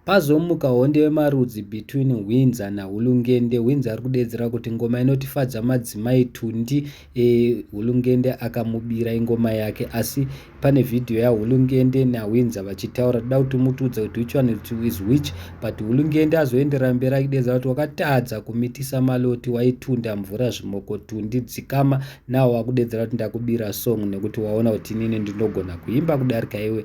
Pazomuka honde yemarudzi between Hwinza naHulungende. Hwinza ari kudeedzera kuti ngoma inotifadza madzimai Tundi. E, Hulungende akamubira ingoma yake asi pane vhidhiyo yaHulungende naHwinza vachitaura. Toda kuti mutiudze kuti which one is which but Hulungende azoenderera mberi achideedza kuti wakatadza kumitisa maloti waitunda mvura zvimoko Tundi dzikama. Nawo wakudeedzera kuti ndakubira song nekuti waona kuti inini ndinogona kuimba kudarika iwe.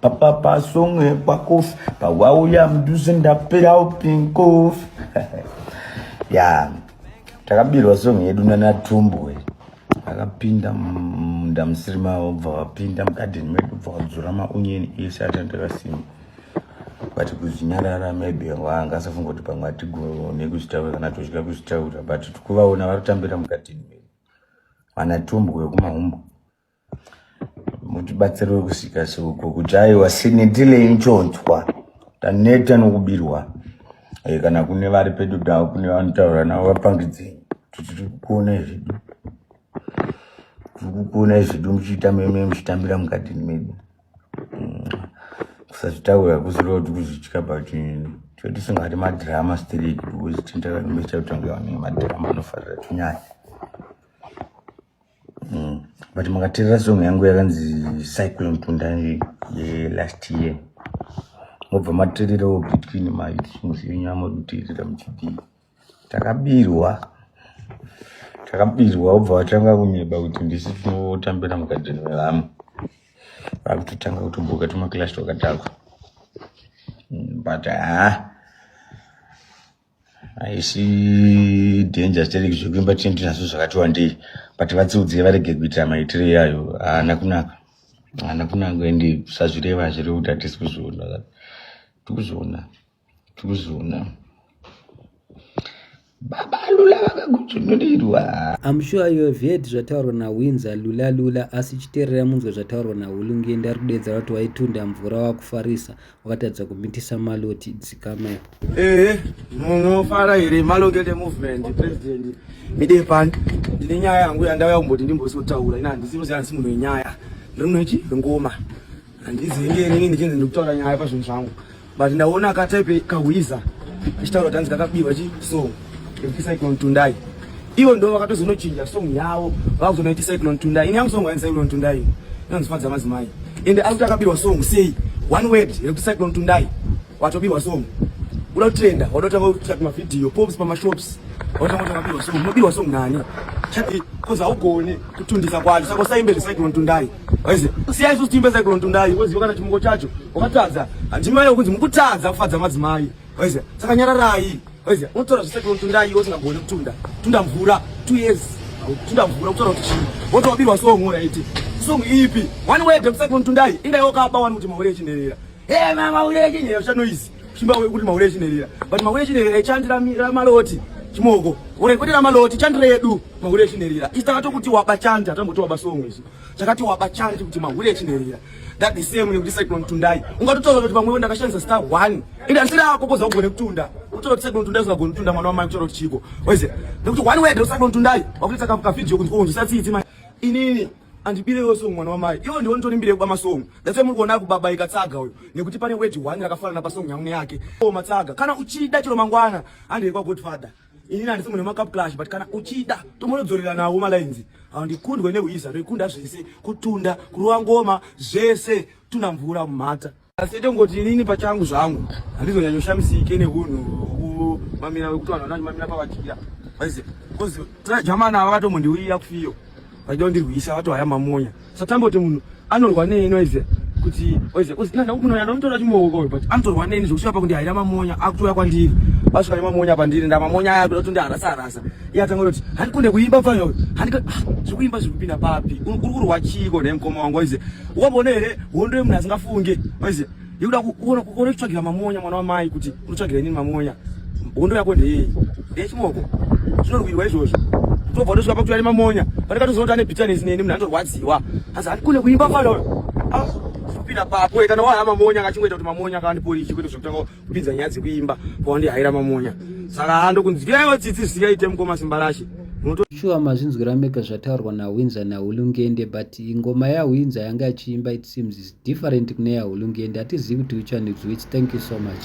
papapa song yekwakofi pawauya mudhuze ndapera upinkofi ya takabirwa song yedu nanatumbwe akapinda munda musiri mavo bva vapinda mugadheni medu bva vadzura maonyeni ese atandakasimba but kuzvinyarara maybe wanga asafunga kuti pamwe atigone kuzvitaura kana tozvika kuzvitaura but tikuvaona vari kutambira mugadheni medu vanatumbwe kumahumbo mutibatsiriwe kusvika seuko kujaiwa sinetile inchonzwa taneta nokubirwa e, kana kune vari pedu davo kune vanotaura navo vapangidzei kuti tiri kukuonai zvedu tiri kukuonai zvedu muchiita meme muchitambira mukati medu mm. kusazvitaura kuzireva kuti kuzvitya but toti singati madrama straight because tindakanimechautangevanemadrama anofarira tinyaya mm. but makaterera song yangu yakanzi cyclone tunda yelast year mobva matererawo between masongs enyu amaduterera muchidii takabirwa takabirwa obva vatanga kunyeba kuti ndisi tinotambira mugadheni mevamwe vakutotanga kutomboka tumaclash twakadhakwa mm, but haa ah. haisi danger stereki zvekuimba tine tinazvo zvakati wandei but vatsiudzei varege kuitira maitiro iyayo haana kunaka haana kunaka ende sazvireva hazvirevi kuti hatisi kuzviona tikuzviona tikuzviona baba lula vakagudzvunurirwa am sure you have heard zvataurwa nawinzer lula lula asi chiterera munzwe zvataurwa nahulungi ndarudedza vati waitunda mvura wakufarisa wakatadza kumitisa maloti dzikamai ehe munofara here malongete movement president mide pano ndine nyaya yangu yandauya kumboti ndimbosotaura ina handisi unoziva handisi munhu wenyaya ndiri munhu wechi wengoma handizi inge inini ndichinzi ndiri kutaura nyaya pazvinhu zvangu but ndaona akataipe kahwiza achitaura kuti hanzi kakabiwa chi so Cyclone Tundai ivo ndo vakatozonochinja song yavo vakuzonaiti Cyclone Tundai ini yangu song waini Cyclone Tundai inonzifadza madzimai ende ari kuti akabirwa song sei one word yekuti Cyclone Tundai watobirwa song uda kutrenda wadotanga kutsvaka mavhidhiyo pops pamashops wadotanga kutsvaka mabirwa song unobirwa song nani chati kozi haugone kutundisa kwacho saka usaimbe zvecyclone tundai waizi siyai susu tiimbe cyclone tundai woziva kana chimungo chacho wakatadza handimai yokunzi mukutadza kufadza madzimai Waiziva, saka nyararai. Waiziva, unotora zvisati unotunda iwe usingagoni kutunda. Tunda mvura, two years. Tunda mvura, kutaura kuti chii. Woto wabirwa song ora iti. Song ipi? One way dem sati unotundai. Inga iwe kaba wani kuti mahure chinderera. Hey mama mahure chinderera cha noise. Chimba we kuti mahure chinderera. But mahure chinderera ichandira mira maloti. Chimoko. Ore kuti la maloti chandira yedu. Mahure chinderera. Isitaka to kuti waba chanda, tambo to waba song izi. chakati waba chanje kuti mahure echinherera that the same nekuti cyclone tundai ungatotaura kuti pamwewo ndakashandisa star one ende handisiri ako koza kugone kutunda utoa kuti cyclone tundai usingagoni kutunda mwana wamai kutaura kuti chiiko wese nekuti one word cyclone tundai wakutoita kavideo kunzi onzi usatsiitsi mai inini andibirewo songo mwana wamai iwo ndiwo nditori mbire kuba masongo that's why muri kuona kubabaika tsaga uyo nekuti pane word one rakafanana pasongo yangu neyake o matsaga kana uchida chero mangwana handei kwagodfather ini nandisi munhu wemacup clash but kana uchida tomonodzorera nawo malines handikundwe neuisa rekunda zvese kutunda kurova ngoma zvese tuna mvura mumhata asi tongoti inini pachangu zvangu handizonyanyoshamisike neunhu kumamira wekuti vanhu vanamamira pavadira bcoz trajamana ava vatomondiuira kufiyo vachida kundirwisa vato haya mamonya satamboti munhu anorwa nei noise kuti oise uzinanda kunoya ndomutora chimoko uyu but anotorwa neni zvokusvika pakuti haira mamonya akutoya kwandiri asvika nemamonya pandiri ndamamonya aya kuda kuti ndiarasa arasa iye atanga kuti handikunde kuimba pfanya uyu handika ah, zvekuimba zviri kupinda papi uri kurwa chiiko nemkoma wangu oise ukamboona here hondo yemunhu asingafunge oise Ndikuda kuona kuona kutsvagira mamonya mwana wamai kuti unotsvagira inini mamonya. Hondo yako ndeyei? Ndeyechimoko. Zvinorwirwa izvozvo. Tobva ndosvika pakutora nemamonya. Pane katozoti ane bitterness neni munhu anorwadziwa. Asi andikone kuimba fana uyo. Ah, kupinda papo kana wahaya mamonya akachingoita kuti mamonya akandiporiki kwete zvekutanga kupinza nyaya dzekuimba kwawandihaira mamonya. Saka hando kunzi yaiwa tsitsi zvisingaite mukoma simba rashe. shuwa mazvinzwira mega zvataurwa nahwinza nahulungende but ngoma yahwinza yanga achiimba it seems Different kune yaHulungendi hatizivi kuti which one is which. Thank you so much.